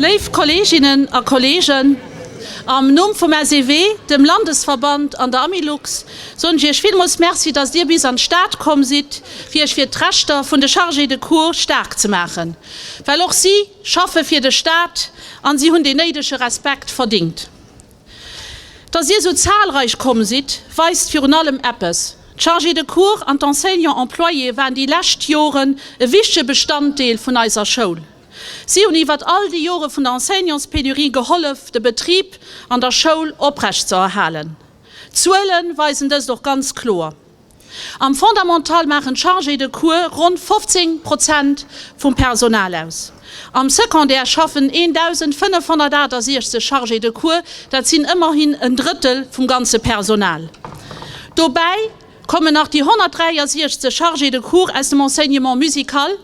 Léif Kolleeginnen a Kolleegen, am Numm vum SEW, dem Landesverband an der Amilux soen ech Iech villmools Merci, dass Dir bis an d'Stad komm sidd, fir Iech fir d'Rechter vun de Chargés de cours staark ze maachen, well och si, Schaffe fir de Staat an si hunn dee néidege Respekt verdingt. Datt Dir esou zahlreich komm sidd, weist virun allem eppes, D'Chargés de cours an d'Enseignants employés waren déi lescht Joren e wichtege Bestanddeel vun eiser Schoul. Si hunn iwwert all déi Jore vun der Enseignantspénurie gehollef, de Betrib an der Schoul oprecht ze erhalen. D'Zuele weisen dëst och ganz kloer. Am Fondamental maachen d'Chargés de cours ronn 15 Prozent vum Personal aus. Am Secondaire schaffen 1.568 Chargés de cours, dat sinn ëmmerhin en Drëttel vum ganze Personal. Dobäi kommen nach déi 163 Chargés de cours aus dem Enseignement musical.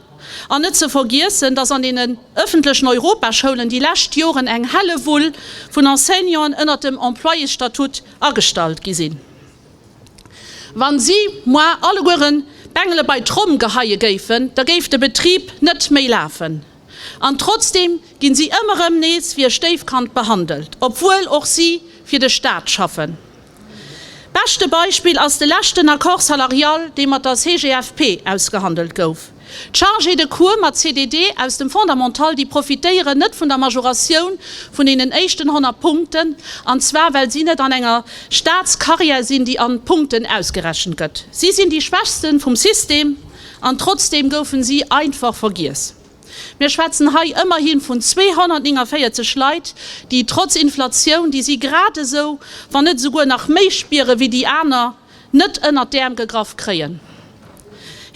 An net ze vergiessen, datt an deenen ëffentlechen Europaschoulen déi lescht Joren eng Hellewull vun Enseignanten ënnert dem Employésstatut agestallt gi sinn. Wa si, moi, allegueren d'Bengele bei d'Tromm geheie géifen, da géif de Betrib net méi lafen. An trotzdeem ginn si ëmmer erëm nees wéi e Stéifkand behandelt, obwuel och si fir de Staat schaffen. Beschte Beispill ass de leschten Accord salarial, dee mat der CGFP ausgehandelt gouf. D'Chargés de cours mat CDD aus dem Fondamental, déi profitéieren net vun der Majoratioun vun deenen éischten 100 Punkten, an zwar well si net an enger Staatscarrière sinn, déi an Punkten ausgerechent gëtt. Si sinn déi Schwächsten vum System, an trotzdeem goufen si einfach vergiess. Mir schwätzen hei ëmmerhi vun 249 Leit, déi trotz Inflatioun, déi si grad esou, wann net esouguer nach méi spieren, wéi déi aner, net ënnert d'Äerm gegraff kréien.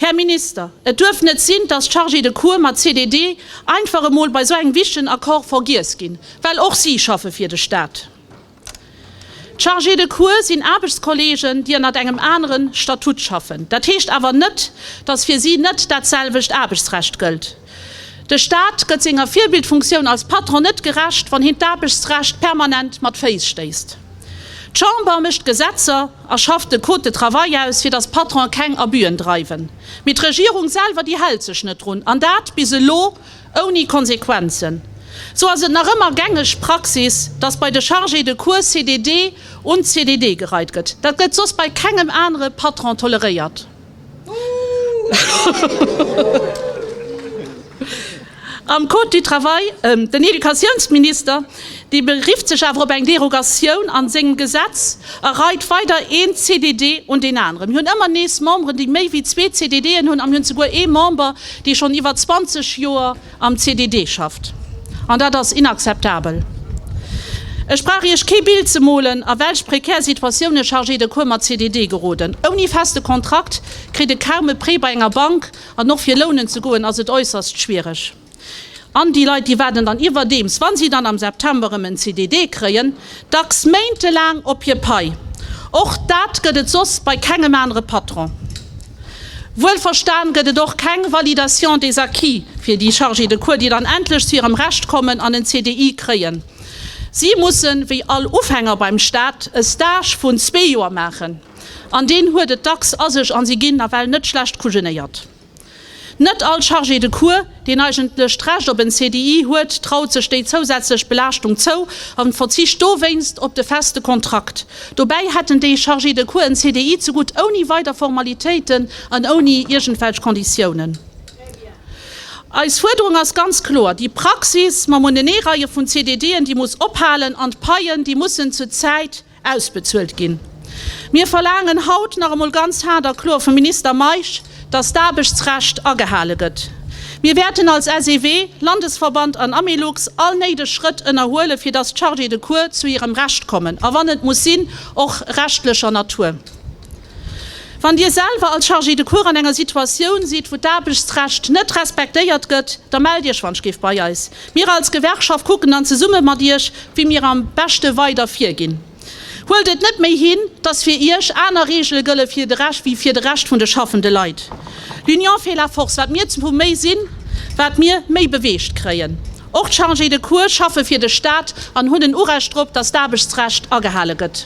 Här Minister, et duerf net sinn, dass d'Chargés de cours mat CDD einfach emol bei esou engem wichtegen Accord vergiess ginn, well och si schaffe fir de Stat. D'Chargés de cours sinn Aarbechtskollegen, déi ënnert engem anere Statut schaffen. Dat heescht awer net, dass fir si net datselwecht Aarbechtsrecht gëllt. De Staat gëtt senger Virbildfunktioun als Patron net gerecht, wann hien d'Aarbechtsrecht permanent mat Féiss stéisst. D'Chamber mécht d'Gesetzer a schafft de Code de travail aus, fir datt d'Patrone keng Abüen dreiwen. Mee d'Regierung selwer, déi hält sech net drun, an dat bis elo ouni Konsequenzen. Sou ass et nach ëmmer gängeg Praxis, datt bei de Chargés de cours CDD un CDD gereit gëtt. Dat gëtt soss bei kengem anere Patron toleréiert. Am Code du travail, den Educatiounsminister, dee berifft sech awer op eng Derogatioun a sengem Gesetz a reit weider een CDD un deen aneren. Mir hunn ëmmer nees Memberen, déi méi wéi zwee CDDen hunn, a mir hunn souguer ee Member, dee schonn iwwer 20 Joer am CDD schafft, an dat ass inakzeptabel. Ech brauch Iech kee Bild ze molen, a welch prekär Situatioun e Chargé de cours mat CDD geroden. Ouni feste Kontrakt kritt e kaum e Prêt bei enger Bank, an och fir lounen ze goen ass et äusserst schwiereg. An déi Leit, déi waarden dann iwwerdeems, wa si dann am September erëm en CDD kréien, Dacks méintelaang op hir Pai. Och dat gëtt et soss bei kengem anere Patron. Wuelverstan gëtt et och keng Validation des acquis fir déi Chargés de cours, déi dann endlech zu hirem Recht kommen an en CDI kréien. Si mussen, wéi all Ufänger beim Staat, e Stage vun zwee Joer maachen. An deen huet et dacks a sech an si ginn nawell net schlecht kujenéiert. Net all Chargé de cours, deen eigentlech d'Recht op en CDI huet, traut sech déi zousätzlech Belaaschtung zou a verzicht dowéinst op de feste Kontrakt. Dobäi hätten déi Chargé de cours en CDI zegutt, ouni weider Formalitéiten an ouni iergendwelch Konditiounen. Eis Fuerderung ass ganz kloer, déi Praxis mam Uneneereie vun CDDen, déi muss ophalen an d'Paien, déi mussen zur Zäit, ausbezuelt ginn. Mir verlaangen haut nach emol ganz haart a kloer vum Minister Meisch, dass d'Aarbechtsrecht agehale gëtt. Mir wäerten als SEW, Landesverband an Amelux all néideg Schrëtt ënnerhuelen, fir dass d'Chargés de cours zu hirem Recht kommen, a wann et muss sinn, och rechtlecher Natur. Wann Dir selwer als Chargé de cours an enger Situatioun sidd, wou d'Aarbechtsrecht net respektéiert gëtt, da mellt Iech wannschgef bei eis. Mir als Gewerkschaft kucken dann zesumme mat Iech, wéi mir am beschte weider virginn. Huelt et net méi hin, dass fir Iech aner Regele gëlle wéi fir de Rescht vun de schaffende Leit. L'union fait la force. Wat mir zu méi sinn, wat mir méi beweegt kréien. Och d'Chargé de cours schaffe fir de Staat an hunn en Urecht drop, dass d'Aarbechtsrecht agehale gëtt.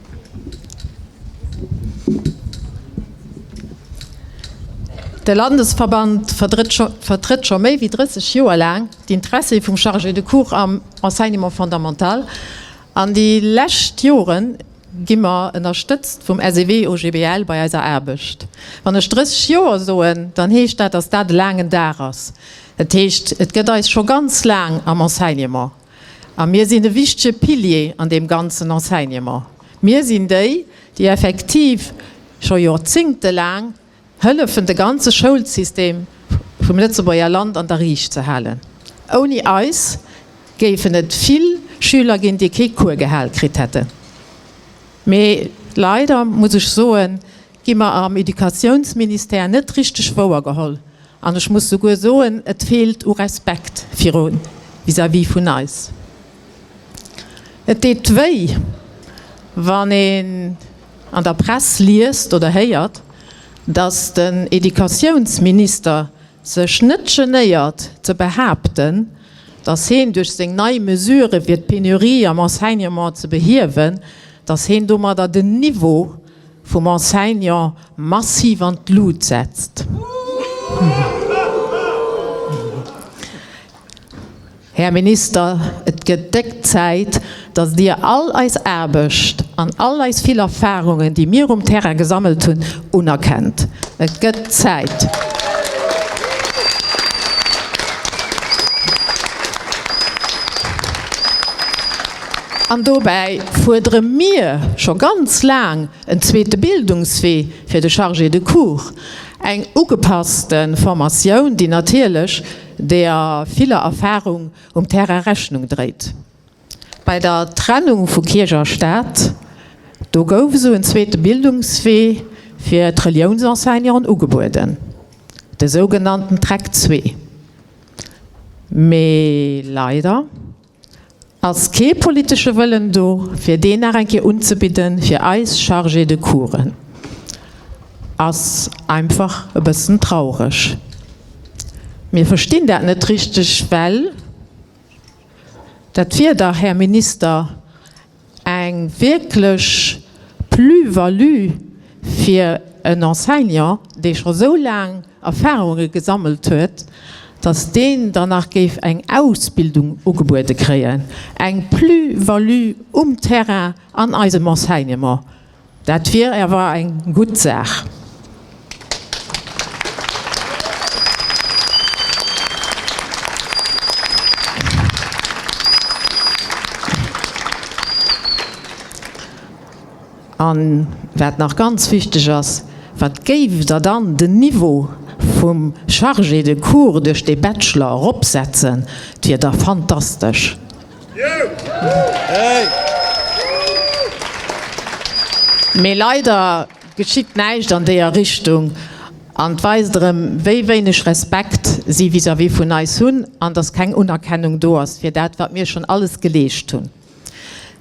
De Landesverband vertrëtt scho méi wéi 30 Joer laang d'Interessie vum Chargé de cours am Enseignement fondamental. An déi lescht Jore gi mer ënnerstëtzt vum SEW OGBL bei eiser Aarbecht. Wann ech 30 Joer soen, dann heescht dat, datt dat e laangen Dag ass. Dat heescht, et gëtt eis scho ganz laang am Enseignement. A mir sinn e wichtege Pilier an deem ganzen Enseignement. Mir sinn déi, déi effektiv scho jorzingtelaang hëllefen, de ganze Schoulsystem vum Lëtzebuerger Land an der Riicht ze halen. Ouni eis géifen et vill Schüler ginn, déi kee Cours gehal kritt hätten. Mee leider, muss ech soen, gi mer am Educatiounsministère net richteg wouergeholl. An ech muss souguer soen, et feelt u Respekt viru vis-à-vis vun eis. Et deet wéi, wann een an der Press liest oder héiert, dass den Educatiounsminister sech net genéiert ze behaapten, dass heen duerch seng nei Mesure fir d'Penurie am Enseignement ze behiewen, dass heen domadder den Niveau vum Enseignant massiv an d'Lut setzt. Här Minister, et gëtt déck Zäit, datt Dir all eis Aarbecht an all eis vill Erfarungen, déi mir um Terrain gesammelt hunn, unerkennt. Et gëtt Zäit. An dobäi fuerdere mir scho ganz laang en zweete Bildungswee fir de Chargé de cours, eng ugepasste Formatioun, déi natierlech der viller Erfarung um Terrain Rechnung dréit. Bei der Trennung vu Kierch a Staat, do gouf esou en zweete Bildungswee fir d'Reliounsenseignanten ugebueden, de sougenannten Track zwee. Mee leider. Ass kee politesche Wëllen do, fir deen nach eng Kéier unzebidden fir eis Chargés de coursen? Ass einfach e bëssen traureg. Mir verstinn dat net richteg, well dat wier dach, Här Minister, Eng wierklech Plus-value fir en Enseignant, dee scho sou laang Erfahrunge gesammelt huet, datt deen dann nach géif eng Ausbildung ugebuede kréien. Eng Plus-value um Terrain an eisem Enseignement. Dat wier awer eng gutt Saach. An wat nach ganz wichteg ass, Wat géift Der dann den Niveau vum Chargé de cours duerch dee Bachelor eropsetzen? 't wier da fantastesch. Mee leider geschitt näischt an déer Richtung, an weist erem wéi wéineg Respekt si vis-à-vis vun eis hun, an dass keng Unerkennung do ass fir dat wat mir schon alles geleescht hun.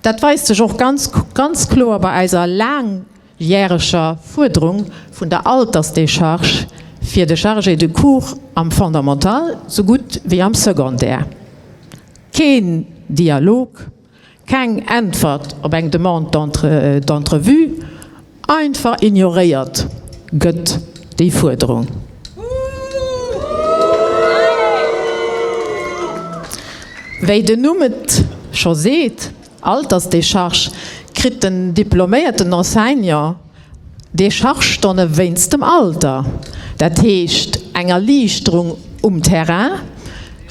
Dat weist sech och ganz kloer bei eiser laang järeger Fuerderung vun der Altersdécharge fir de Chargé de cours am Fondamental sou gutt wéi am Secondaire. Keen Dialog, keng Äntwert op eng Demande d'entrevue, einfach ignoréiert gëtt déi Fuerderung. Wéi den Numm et scho seet. Altersdécharge kritt den diploméierten Enseignant Dechargestonne wéinst dem Alter, dat heescht eng Erliichterung um Terrain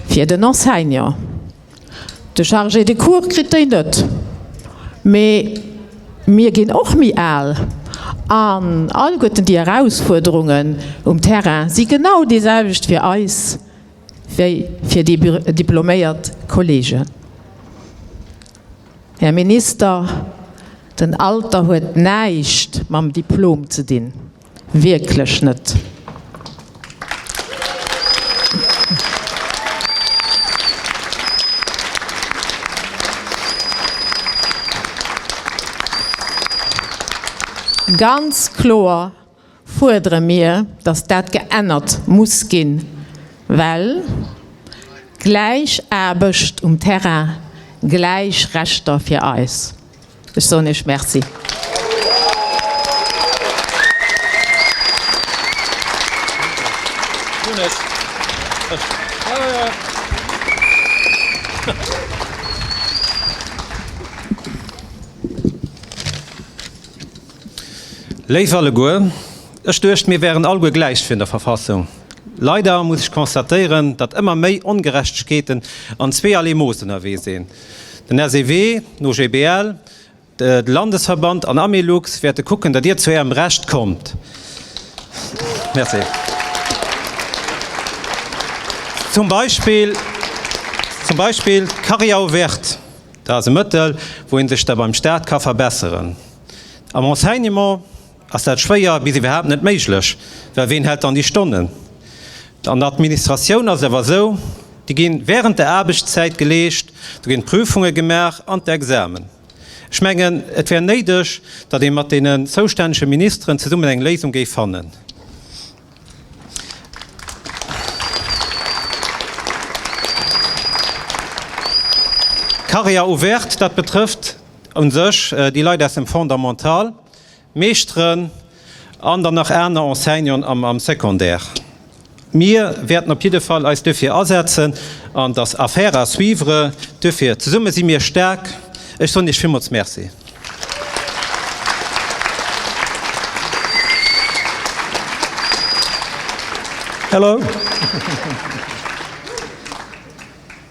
fir den Enseignant. De Chargé de cours kritt déi net. Mee mir ginn och méi al an alleguerten déi Erausfuerderungen um Terrain si genau déi selwecht fir eis. wéi fir déi diploméiert Kolleegen. Här Minister, den Alter huet näischt mam Diplom ze dinn, wierklech net! Ganz kloer fuerdere mir, dass dat geännert muss ginn, well gläich Aarbecht um Terrain, gläich Rechter fir eis. Ech soen Iech Merci. Léif alleguer, ech duecht mir wären alleguer gläich vun der Verfassung. Leider muss ech constatéieren, datt ëmmer méi Ongerechtegkeeten an zweeërlee Mooss ënnerwee sinn. Den SEW, d'OGBL, de Landesverband an Amilux wäerte kucken, datt Dir zu Ärem Recht kommt. Zum Beispill d'Carrière ouverte, dat ass e Mëttel, wou ee sech da beim Staat ka verbesseren. Am Enseignement ass dat schwéier bis iwwerhaapt net méiglech, well ween hält dann déi Stonnen? An der Administratioun ass et awer esou, déi gi während der Aarbechtszäit geleescht, do ginn d'Prüfunge gemaach an d'Examen. Ech mengen, et wär néideg, datt ee mat deenen zoustännege Ministeren zesummen eng Léisung géif fannen. Carrière ouverte, dat betrëfft Un sech déi Leit aus dem Fondamental, Meeschteren an dann nach aner Enseignanten am Secondaire. Mir wäerten op jidde Fall eis duerfir asetzen an dass Affaire à suivre duerfir. Zesumme si mir staark. Ech soen Iech villmools Merci. Applaus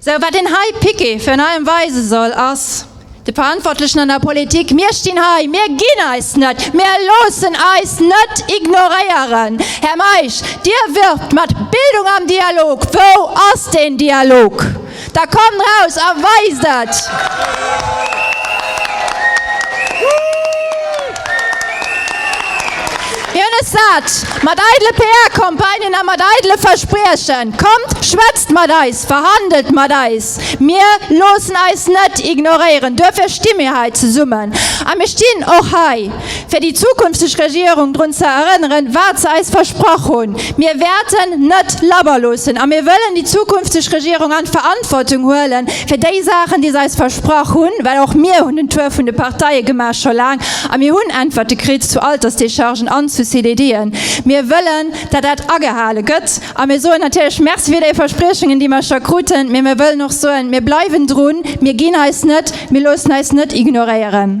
Sou, wat een hei piqué fir an allem weise soll, ass de Verantwortlechen an der Politik, Mir stinn hei, mir ginn eis net, mir loossen eis net ignoréieren. Här Meisch, Dir wirbt mat Bildung am Dialog. Wou ass deen Dialog? Da kommt raus a weist et! Hien ass sat mat eidele PR-Campagnen a mat eidele Verspriechen. Kommt, schwätzt mat eis, verhandelt mat eis. Mir loossen eis net ignoréieren. Duerfir sti mir hei zesummen. A mir stinn och hei, fir déi zukünfteg Regierung drun ze erënneren, wat se eis versprach hunn. Mir wäerten net labber loossen a mir wëllen déi zukünfteg Regierung an d'Verantwortung huelen, fir déi Saachen, déi se eis versprach hunn, well och mir hunn den Tour vun de Parteie gemaach, scho laang, a mir hunn Äntwerte kritt zu Altersdéchargen an zu CDDen. Mir wëllen, datt dat agehale gëtt. A mir soen natierlech Merci fir déi Verspriechungen, déi mer scho kruten, mee mir wëllen och soen, Mir bleiwen drun, mir ginn eis net, mir loossen eis net ignoréieren.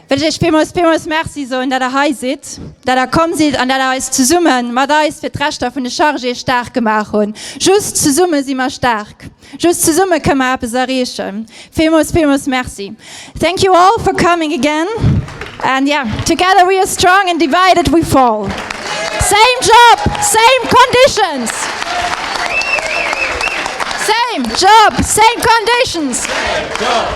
wëll ech Iech villmools, villmools Merci soen, dat Der hei sidd, dat Der komm sidd an dat Der eis zesumme mat eis fir d'Rechter vun de Chargéë staark gemaach hunn. Just zesumme si mer staark. Just zesumme kënne mer eppes erreechen. Villmools, villmools Merci. Thank you all for coming again and yeah, together we are strong and divided we fall. Same job, same conditions. Same job, same conditions.